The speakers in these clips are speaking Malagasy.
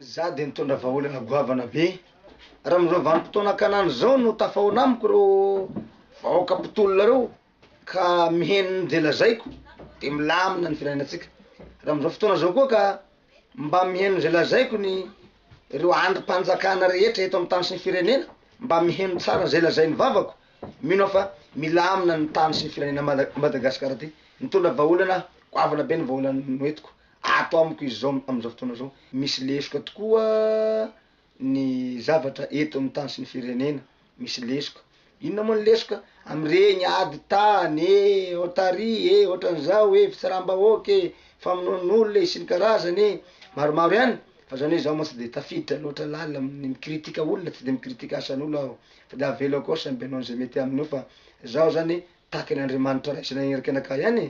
Za de nitondra vahaolana goavana be. Raha amzao vanim-potoana kanany zao no tafahaona amiko reo vahoaka mpitolona reo ka miheno ny ze lazaiko de milamina ny filaminantsika, raha amzao fotoana zao koa ka mba miheno ze lazaiko ny reo andrim-panjakana rehetra eto amin'ny tany sy ny firenena mba miheno tsara ze lazain'ny vavako. Mino aho fa milamina ny tany sy ny firenena Madagascar ty. Mitondra vahaolana aho, goavana be ny vahaolana noentiko ato amiko izy zao amin'izao fotoana zao. Misy lesoka tokoa ny zavatra eto amin'ny tany sy ny firenena, misy lesoka. Inona moa ny lesoka? Amin'ireny ady tany e, ohat'ary e, ohatran'izao e, fitsaram-bahoaka e, famonoan'olona e, sy ny karazany e, maromaro ihany. Fa zao anie izaho mantsy de tafiditra loatra lalina amin'ny mi-critique olona, tsy de mi-critique asan'olo aho. De avelo akao samy mpanao an'izay mety aminy eo fa zaho zany takin' Andriamanitra ray sy nanerika anakahy ihany e!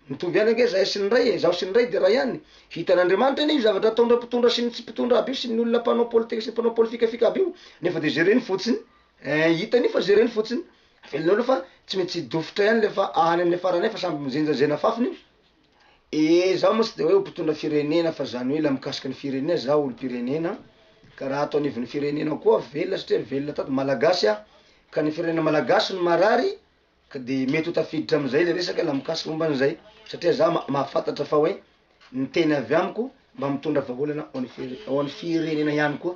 Mitovy ihany ange zahay sy ny ray e! Zaho sy ny ray de ray ihany! Hitan' Andriamanitra anie io zavatra ataon-dra mpitondra sy ny tsy mpitondra aby io sy ny olona mpanao politika sy ny mpanao polifikafika aby io nefa de jereny fotsiny eh! Hitany io fa jereny fotsiny! Avelonao aloha fa tsy mety tsy hidofotra ihany le fa any amle farany any fa samy mijenjajena fafiny io! Ee zaho moa tsy de hoe mpitondra firenena fa zany hoe la mikasika ny firenena za olompirenena ka raha ato anivon'ny firenena koa velona satria velona tato malagasy aho ka ny firenena malagasy no marary ka de mety ho tafiditra amizay le resaka la mikasika momba anizay satria za ma- mahafantatra fa hoe ny teny avy amiko mba mitondra vahaolana ho an'ny fire- ho an'ny firenena ihany koa.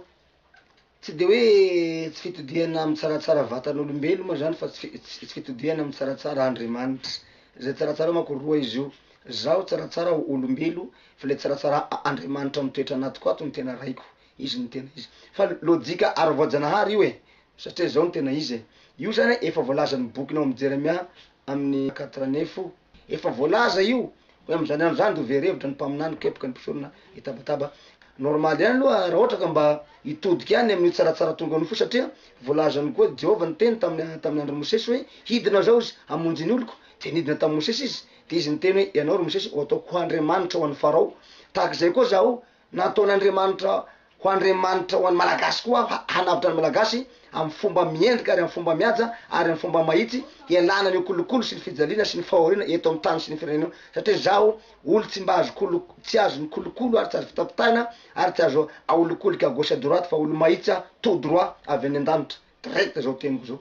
Tsy dia hoe tsy fitodihana amin'ny tsaratsara vatan'olombeloma izany fa tsy fitodihana amin'ny tsaratsara Andriamanitra. Izay tsaratsara manko roa izy io. Zaho tsaratsara ho olombelo fa ilay tsaratsara Andriamanitra mitoetra anatiko ato no tena raiko. Izy no tena izy. Fa lojika ara-voajanahary io e! Satria izao no tena izy e! Io izany efa voalazan'ny bokinao amin'i Jeremia amin'ny quatre année fo. Efa voalaza io hoe amin'izany andro izany dia ho very hevitra ny mpaminany mikepoka ny mpisorona hitabataba. Normal ihany aloha raha ohatra ka mba hitodika ihany amin'io tsaratsara tonga ao ny fo satria voalazany koa Jehovah niteny tamin'ny tamin'ny andron'i Mosesy hoe hidina izao izy hamonjy ny oloko dia nidina tamin'i Mosesy izy dia izy niteny hoe ianao ry Mosesy ho ataoko ho Andriamanitra ho an'i Farao tahaka izay koa zaho Nataon'Andriamanitra ho Andriamanitra ho an'ny Malagasy koa aho, hanavotra ny Malagasy amin'ny fomba miendrika ary amin'ny fomba mihaja ary amin'ny fomba mahitsy, hialana an'io kolikoly sy ny fijaliana sy ny fahoriana eto amin'ny tany sy ny firenena io, satria izaho olo tsy mba azo kolikoly, tsy azo mikolokolo ary tsy azo fitapitahina ary tsy azo aholikolika à gauche à droite fa olo mahitsy aho, tout droit avy any an-danitra, direct izao teniko izao.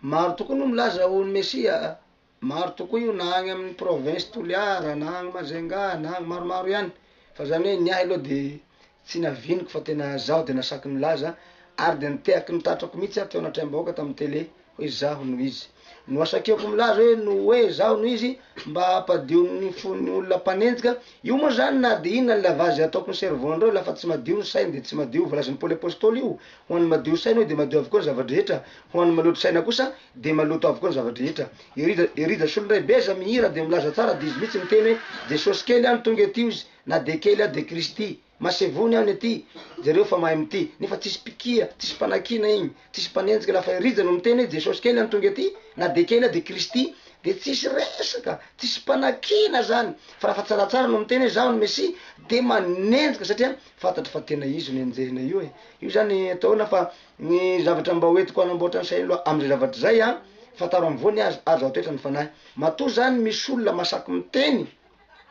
Maro tokoa no milaza ho ny Mesia a! Maro tokoa io na agny amin'ny province Toliara na agny Majunga na agny maromaro ihany fa zany hoe ny ahy aloha de tsy naviniko fa tena zaho de nasaky nilaza ary de nitehaky ny tatrako mihitsy aho teo anatreham-bahoaka tamin'ny tele hoe zaho no izy. Nohasakiako milaza hoe noue zaho no izy mba hampadio ny fon'ny olona mpanenjika, io moa zany na de inona ny lavage ataoko ny cerveau-ndreo lafa tsy madio ny sainy de tsy madio, volazan'i Paoly Apostoly io, ho an'ny madio saina hoy de madio avokoa ny zava-drehetra, ho an'ny maloto saina kosa Dia maloto avokoa ny zava-drehetra. Ery Jasy Solonay be aza mihira dia milaza tsara dia izy mihitsy miteny hoe Jesosy kely any tonga ety ozy na dia kely aho dia Kristy masevony any ety jereo fa mahay mitia nefa tsisy mpikia tsisy mpanakiana igny tsisy mpanenjika lafa i Rija no miteny hoe Jesosy kely any tonga ety na dia kely aho dia Kristy dia tsisy resaka tsisy mpanakiana zany fa rafa tsaratsara no miteny hoe zaho ny Messi dia manenjika satria fantatry fa tena izy no enjehina io e io zany atao hoe nafa Ny zavatra mba ho entiko hanamboatra ny sainy loha amin'izay zavatra izay an, fantaro amin'ny voany aza ary zao toetra ny fanahy. Matoa zany misy olona masaky miteny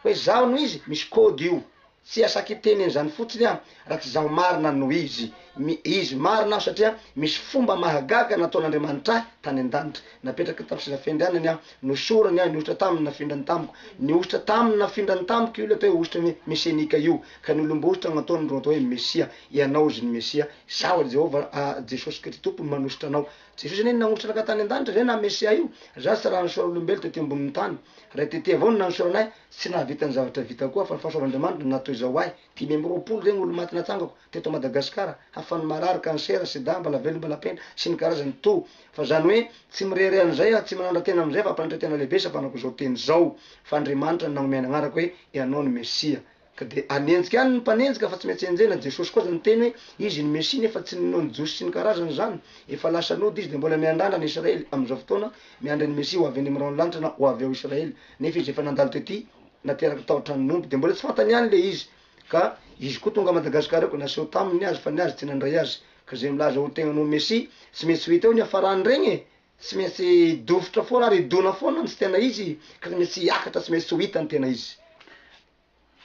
hoe zaho no izy, misy code io. Tsy asaky hiteny an'izany fotsiny aho raha tsy zaho marina no izy. Mi, izy marina aho satria misy fomba mahagaga nataon'Andriamanitra ahy tany an-danitra. Napetraky ny tamin'ny seza fiandrianany aho, nosorany aho, nihosotra taminy, nafindrany tamiko. Nihosotra taminy, nafindrany tamiko io ilay atao hoe hosotra ny hoe mesenika io, ka ny olom-bosotra no ataony ro atao hoe Mesia. Ianao izy ny Mesia. Izaho ry Jehovah, a Jesosy Kristy Tompo, no manosotra anao. Jesosy anie no nangotranaka tany an-danitra, izay naha Mesia io. Izaho tsy raha nisaora olombelona tety ambonin'ny tany. Ray Tete avao no nanosorana ahy. Tsy nahavita ny zavatra vitako aho, fa ny fahasoavan'Andriamanitra no natoy izao ahy. Dimy amby roapolo ireny olona maty natsangako, teto Madagasikara, hafan'ny marary, kansera, sida, mbala velona, mbala penda, sy ny karazany toa. Fa izany hoe, tsy mirehareha an'izay aho, tsy manandra-tena amin'izay, fa mpanaitra-tena lehibe isapanako izao teny izao, fa Andriamanitra no nagnomey ny agnarako hoe, Ianao no Mesia. Ka dia hanenjika any ny mpanenjika fa tsy maintsy enjehina, Jesosy koa aza niteny hoe Izy ny Mesia nefa tsy ninoa ny Jiosy sy ny karazany izany, efa lasa nody Izy dia mbola miandrandra ny Israely amin'izao fotoana miandry ny Mesia ho avy any amin'ny rahon'ny lanitra na ho avy ao Israely nefa Izy efa nandalo tety nateraky tao an-tranon'ny omby dia mbola tsy fantany ihany ilay izy ka Izy koa tonga Madagascar eo ka naseho taminy ny azy fa ny azy tsy nandray azy ka izay milaza ho tegnany ho Mesia tsy maintsy ho hita eo ny hafarany regny e! tsy maintsy dofotra foana ary hidona foana ny tsy tena izy ka tsy maintsy hiakatra tsy maintsy tsy ho hita ny tena izy.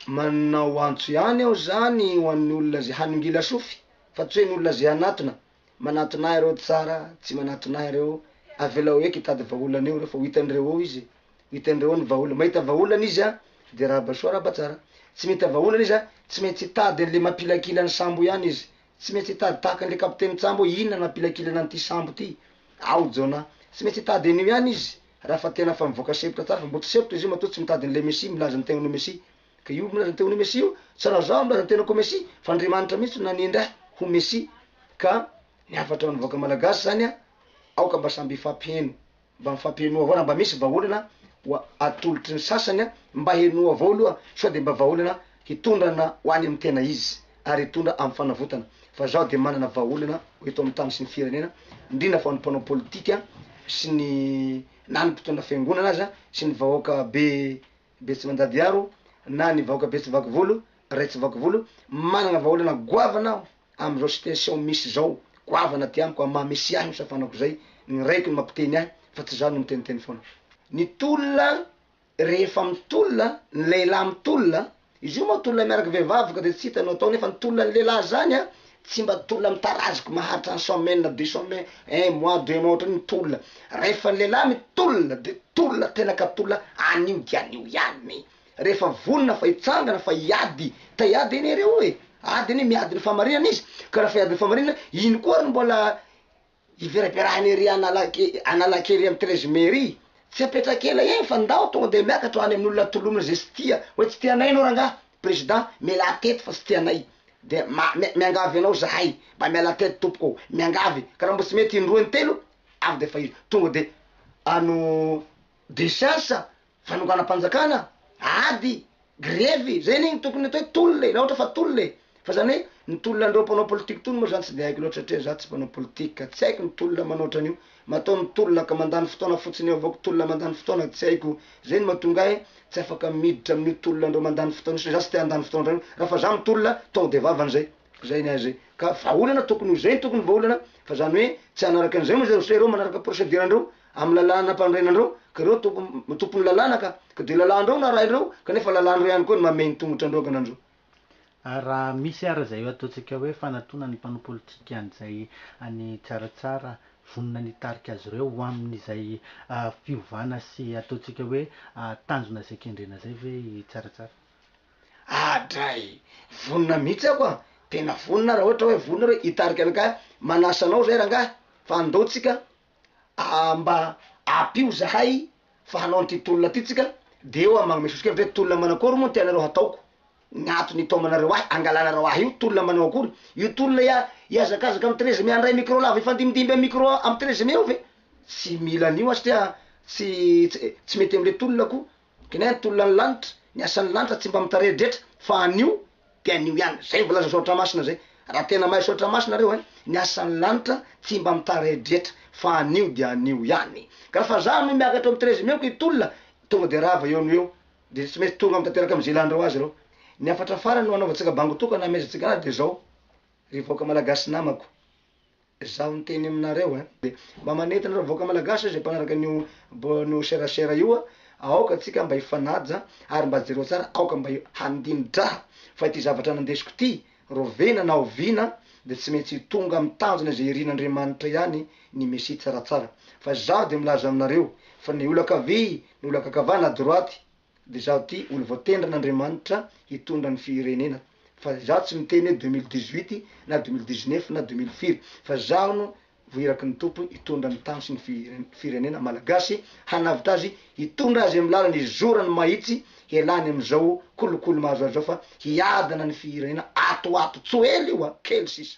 Manao antso ihany aho zany ho an'ny olona ze hanongila sofy fa tsy hoe ny olona ze hanatona, manatona ahy reo tsara tsy manatona ahy reo, avelao eky hitady vahaolana eo reo fa ho hitan'ireo eo izy e, ho hitan'ireo eo ny vahaolana, mahita vahaolana izy an de arahaba soa arahaba tsara, tsy mahita vahaolana izy an tsy maintsy hitady an'le mampilakila ny sambo ihany izy. Tsy maintsy hitady tahaka an'ilay kapiteny tsambo hoe inona nampilakilana an'ity sambo ity. Ao Jona. Tsy maintsy hitady an'io ihany izy raha fa tena fa mivoaka sempotra tsara fa mbo tsy sempotra izy io matoa tsy mitady an'ilay Mesia milaza ny tenany ho Mesia. Ka io milaza ny tenany ho Mesia io tsy raha zaho milaza ny tenako ho Mesia fa Andriamanitra mihitsy no nanendry ahy ho Mesia. Ka ny hafatran'ny vahoaka malagasy zany an! Aoka mba samby hifampiheno. Mba mifampihenoa avao raha mba misy vahaolana ho atolotry ny sasany a! Mba henoa avao aloha sao dia mba vahaolana hitondrana ho any amin'ny tena izy ary hitondra amin'ny fanavotana fa zaho dia manana vahaolana eto amin'ny tany sy ny firenena indrindra fa ny mpanao politika sy ny na ny mpitondra fiangonana aza sy ny vahoaka be be tsy mandady aro na ny vahoaka be tsy vaky volo, ray tsy vaky volo, manana vahaolana goavana aho. Amin'izao situation misy izao, goavana aty amiko, amin'ny maha Messie ahy io safanako izay, ny raiko no mampiteny ahy fa tsy za no miteniteny foana. Ny tolona rehefa mitolona, ny lehilahy mitolona, izy io moa tolona miaraka vehivavy ka dia tsy hita no atao nefa ny tolona ny lehilahy izany an, tsy mba tolona mitaraziky maharitra un semaine na deux semaines, un mois, deux mois ohatran'io ny tolona. Rehefa ny lehilahy mitolona dia tolona tena ka tolona anio dia anio ihany. Rehefa vonona fa hitsangana fa hiady ta hiady anie re oe ady anie miady ny fahamarinana izy ka raha fa hiady ny fahamarinana ino koa ary no mbola hiveraberahan'i ery analake analake ery amin'ny treize mai ery tsy apetraka ela eny fa ndao tonga dia miakatra any amin'ny olona tolomina izay tsy tia hoe tsy tia anay ianao rangaha président mialà teto fa tsy tia anay dia ma mia miangavy anao zahay mba mialà teto tompoko ô miangavy ka raha mba tsy mety indroa intelo avy dia efa izy tonga dia ano de chance Fanonganam-panjakana, ady, grevy, zay anie no tokony atao hoe tolona e, raha ohatra fa tolona e! Fa zany hoe ny tolona an'ireo mpanao politika tony moa zany tsy dia haiko loatra satria za tsy mpanao politika ka tsy haiko ny tolona manao otran'io, mataho ny tolona ka mandany fotoana fotsiny eo avao ko tolona mandany fotoana tsy haiko zay no mahatonga ahy tsy afaka miditra amin'io tolona an'ireo mandany fotoana io satria za tsy te handany fotoana otran'io, raha fa za mitolona tonga dia vavany zay, zay ny ahy zay, ka vahaolana tokony ho zay ny tokony vahaolana fa zany hoe tsy hanaraka an'izay moa zay satria ireo manaraka procedure andreo Amin'ny lalàna ampanorenandreo, ka ireo toko, tompon'ny lalàna ka, ka dia lalàndreo no arahinreo, kanefa lalàndreo ihany koa ny mamehy ny tongotra andreo ankanandreo. Ary raha misy ara izay ataontsika hoe fanatona ny mpanao politika an'izay any Tsaratsara, vonona ny hitarika azy ireo ho amin'izay fiovana sy ataontsika hoe tanjona izay kendrena izay ve i Tsaratsara? Adray! Vonona mihitsy ako an! Tena vonona raha ohatra hoe vonona ireo hitarika anakay, manasa anao izay rangahy, fa andao tsika, mba apio zahay fa hanao an'ity tolona ity tsika de eo aho magnome sosokevitra hoe tolona manakory moa ny tianareo hataoko ny antony itaomanareo ahy angalanareo ahy io tolona manao akory io tolona ia hiazakazaka am treize mai handray micro lava hifandimbindimby am micro am treize mai eo ve tsy mila an'io aho satria tsy tsy mety amle tolona ko Gnin tolona ny lanitra, ny asan'ny lanitra tsy mba mitaredretra fa anio de anio ihany, zay voalazan'i Soratra Masina zay, raha tena mahay Soratra Masina nareo eh, ny asan'ny lanitra tsy mba mitaredretra fa anio de anio ihany, ka refa za no miakatra eo amin'ny treize mai-ko hitolona tonga de rava eo no eo, de tsy maintsy tonga mitateraka am'ze ilan'ireo azy ireo, ny hafatra farany no hanaovantsika bango tokana hamehezantsika anazy de zao, ry vahoaka Malagasy namako. Zaho miteny aminareo eh. Dia mba manentana ireo vahoaka malagasy izay mpanaraka an'io bonne serasera io a, aoka tsika mba hifanaja ary mba jereo tsara aoka mba handini-draha fa ity zavatra nandesiko ity, rovena na oviana dia tsy maintsy hitonga amin'ny tanjona izay irin'Andriamanitra ihany ny mesia tsaratsara. Fa zaho dia milaza aminareo fa ny olakavia, ny olakakavana, droite, de zaho ty olo voatendrin Andriamanitra hitondra ny firenena fa zaho tsy miteny hoe deux mille dix huit na deux mille dix neuf na deux mille firy fa zaho no voiraky ny Tompo hitondra ny tany sy ny firenena Malagasy hanavotra azy hitondra azy amin'ny lalany hizorany mahitsy hialany amin'izao kolikoly mahazo azy zao fa hiadana ny firenena ato ho ato tso ela io a! kely sisa.